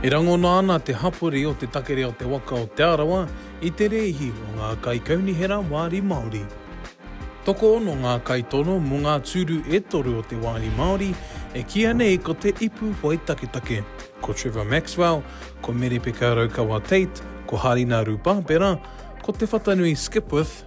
E rangona ana te hapori o te takere o te waka o Te Arawa i te rēhi o ngā kaikaunihera wāri Māori. Tokoono ngā kaitono mō ngā tūru e toru o te wāhi Māori e kīia nei ko te ipu whai taketake, ko Trevor Maxwell, ko Merepeka Raukawa Tate, ko Harina Rupapera, ko Te Whatanui Skipwith,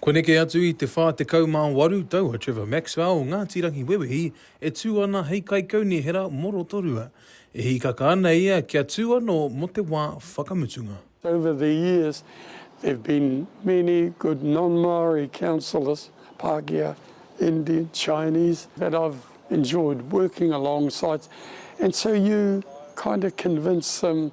Kua neke atu i te 48 tau a Trevor Maxwell o Ngāti Rangiwewehi e tū ana hei kaikaunihera mō Rotorua. E hīkaka ana ia kia tū anō mō te wā whakamutunga. Over the years there've been many good non-Māori councillors, Pākehā, Indian, Chinese, that I've enjoyed working alongside and so you kind of convince them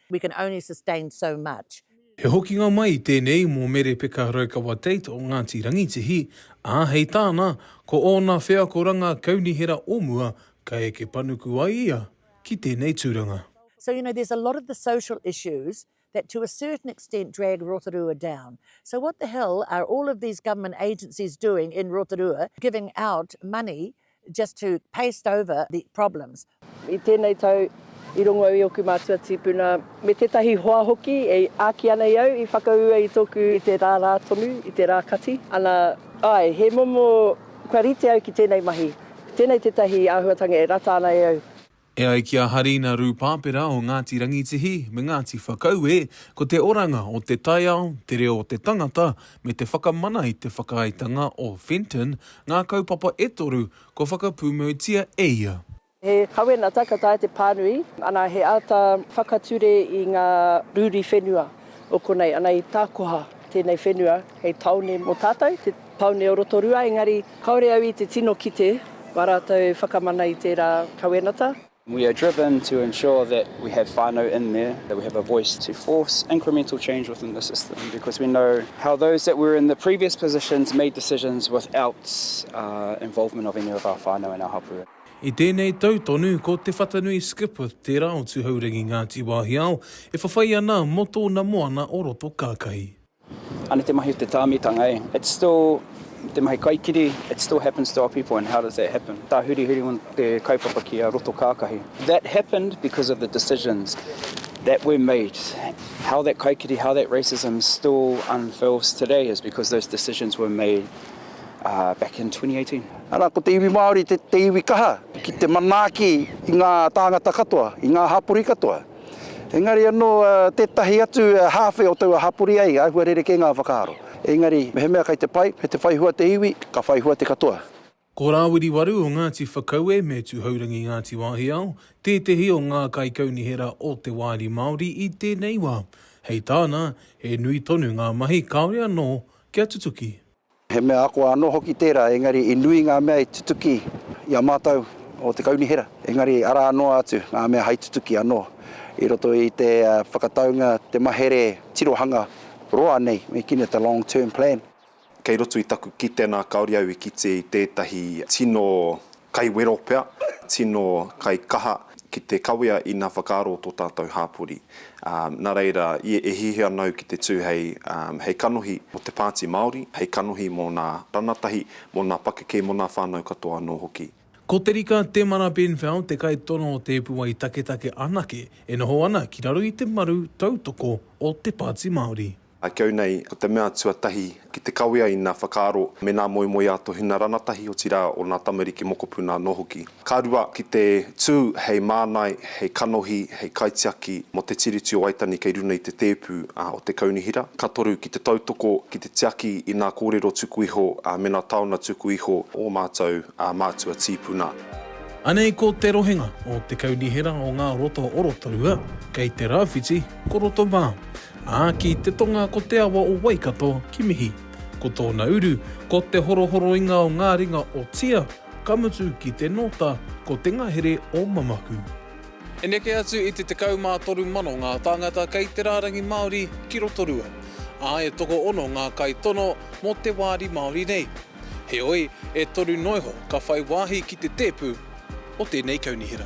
We can only sustain so much. He hokinga mai tēnei mō Mere Peka Raukawa Tate o Ngāti Rangitihi, ā, hei tāna, ko ōna wheakoranga kaunihera o mua ka eke panuku ai ia ki tēnei tūranga. So, you know, there's a lot of the social issues that to a certain extent drag Rotorua down. So what the hell are all of these government agencies doing in Rotorua giving out money just to paste over the problems. I tēnei tau, i rongo au i ōku mātua tīpuna, me tētahi hoa hoki e āki ana i au, i whakaū ai i tōku. I te rā rā tonu, i te rā kati, ana, āe, he momo, kua rite au ki tēnei mahi, tēnei tētahi āhuatanga e rata ana e au. E ai ki a Harina Rūpāpera o Ngāti Rangitihi me Ngāti Whakaue, ko te oranga o te taiao, te reo o te tangata, me te whakamana i te whakaaetanga o Fenton ngā kaupapa e toru kua whakapūmautia e ia. He kawenata ka taea te pānui ana he āta whakature i ngā rūri whenua o konei, ana i tākoha tēnei whenua hei tāone mō tātou. Paone o Rotorua, engari kaore au i te tino kite ko a ratou whakamana i tera kawenata. We are driven to ensure that we have whanau in there, that we have a voice to force incremental change within the system because we know how those that were in the previous positions made decisions without involvement of any of our whanau and our hapu. I tēnei tau tonu, ko Te Whatanui Skipworth tērā o Tuhourangi Ngāti Wāhiao e whawhai ana mō tōna moana o Rotokākahi. Ana te mahi o te tāmitanga e. It's still te mahi kaikiri, it still happens to our people and how does that happen? Tāhurihuri o te kaupapa ki a roto kākahi. That happened because of the decisions that were made. How that kaikiri, how that racism still unfurls today is because those decisions were made uh, back in 2018. Ana, ko te iwi Māori te, te iwi kaha ki te manaaki i ngā tāngata katoa, i ngā hapori katoa. Engari anō tētahi atu hāwhe o taua hapori ai āhua rerekē ngā whakaaro. Engari mehemea kei te pai, me te whai hua te iwi, ka whai hua te katoa. Ko Rāwiri Waru o Ngāti Whakaue me Tuhourangi Ngāti Wāhiao tētehi o ngā kaikaunihera o te Wāri Māori i tēnei wā. Hei tāna, he nui tonu ngā mahi kāore anō kia tutuki. He mea ako anō hoki tērā, engari i nui ngā mea i tutuki i a mātou o te Kaunihera, engari arā noa atu ngā mea hai tutuki anō i roto i te whakataunga, te mahere tirohanga roa nei, me kī nei te long term plan. Kei roto i taku kite nā kāore au i kitea i tētahi tino Kai wero pea, tino kai kaha ki te kawea ina whakaaro to tatou hapori. Na reira, ia e hihi ana au ki te tu hei hei kanohi mo te Paati Maori, hei kanohi mo na ranatahi, mo na pakeke mo na whanau katoa ano hoki. Ko Te Rika Temara Benfell te kaitono o te puai taketake anake e noho ana ki raro i te maru tautoko o te Paati Maori. I kau nei, ko te mea tuatahi, ki te kawea i nā whakaaro me nā moemoeā a Tohina Ranatahi, otirā o nā tamariki mokopuna anō hoki. Ka rua, ki te tū hei mānai, hei kanohi, hei kaitiaki mō Te Tiriti o Waitangi kei runga i te tēpu o te kaunihera. Ka toru, ki te tautoko, ki te tiaki i nā kōrero tuku iho me nā taona tuku iho o mātou mātua tīpuna. Anei ko te rohenga o te kaunihera o ngā roto orotōua kei te rāwhiti ko Rotomā. Ā, ki te tonga ko te awa o Waikato ki mihi. Ko tōna uru, ko te horohoroinga o ngā ringa o Tia, ka mutu ki te nōta, ko te ngahere o Mamaku. E neke atu i te 13 mano ngā tāngata kei te rārangi Māori ki Rotorua, ā, e tokoono ngā kaitono mō te wāri Māori nei. Heoi, e toru noa iho ka whai wāhi ki te tēpu o tēnei kaunihera.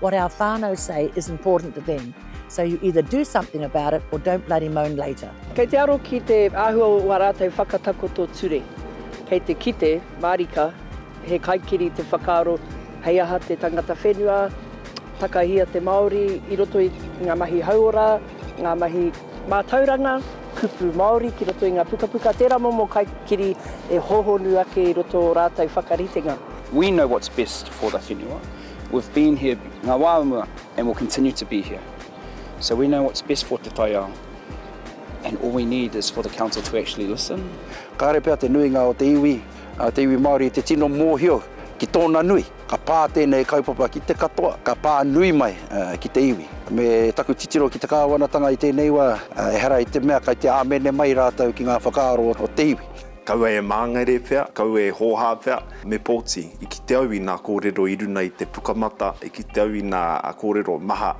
What our whānau say is important to them, so you either do something about it or don't bloody moan later. Kei te aro ki te āhua o ā rātou whakatakoto ture. Kei te kite, mārika, he kaikiri te whakaaro hei aha te tangata whenua, takahia te Māori i roto i ngā mahi hauora, ngā mahi mātauranga, kupu Māori ki roto i ngā pukapuka, tērā momo kaikiri e hōhonu ake i roto o rātou whakaritenga. We know what's best for the whenua. We've been here, ngā wā o mua, and we'll continue to be here. So we know what's best for te taiao, and all we need is for the Council to actually listen. Kāre pea te nuinga o te iwi, o te iwi Māori i te tino mōhio ki tōna nui. Ka pā tēnei kaupapa ki te katoa, ka pā nui mai ki te iwi. Me taku titiro ki te Kāwanatanga i tēnei wā, ehara i te mea kei te āmene mai rātou ki ngā whakaaro o te iwi. Kaua e māngere whea, kaua e hōhā whea, me pōti. I kite au i nā kōrero i runa i te pukamata, i kite au i nā kōrero maha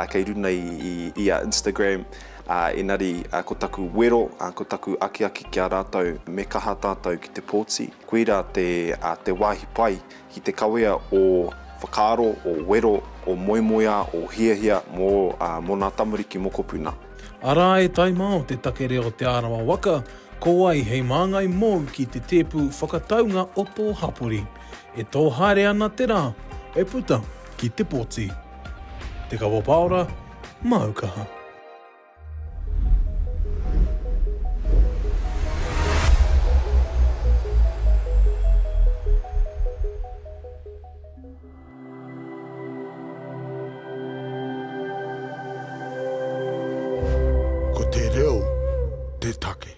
kei runa i a Instagram, ā, engari ko taku wero, ko taku akiaki ki a rātou, me kaha tātou ki te pōti. Koirā te wāhi pai ki te kawea ō whakaaro, ō wero, ō moemoeā, ō hiahia mō nā tamariki mokopuna. Arā e taima o te take reo Te Arawa Waka, Ko wai hei māngai mōu ki te tēpu whakataunga o tō hapori? E tō haere ana te rā, e puta ki te poti. Te Kawa Paora, māu kaha. Ko te reo te take.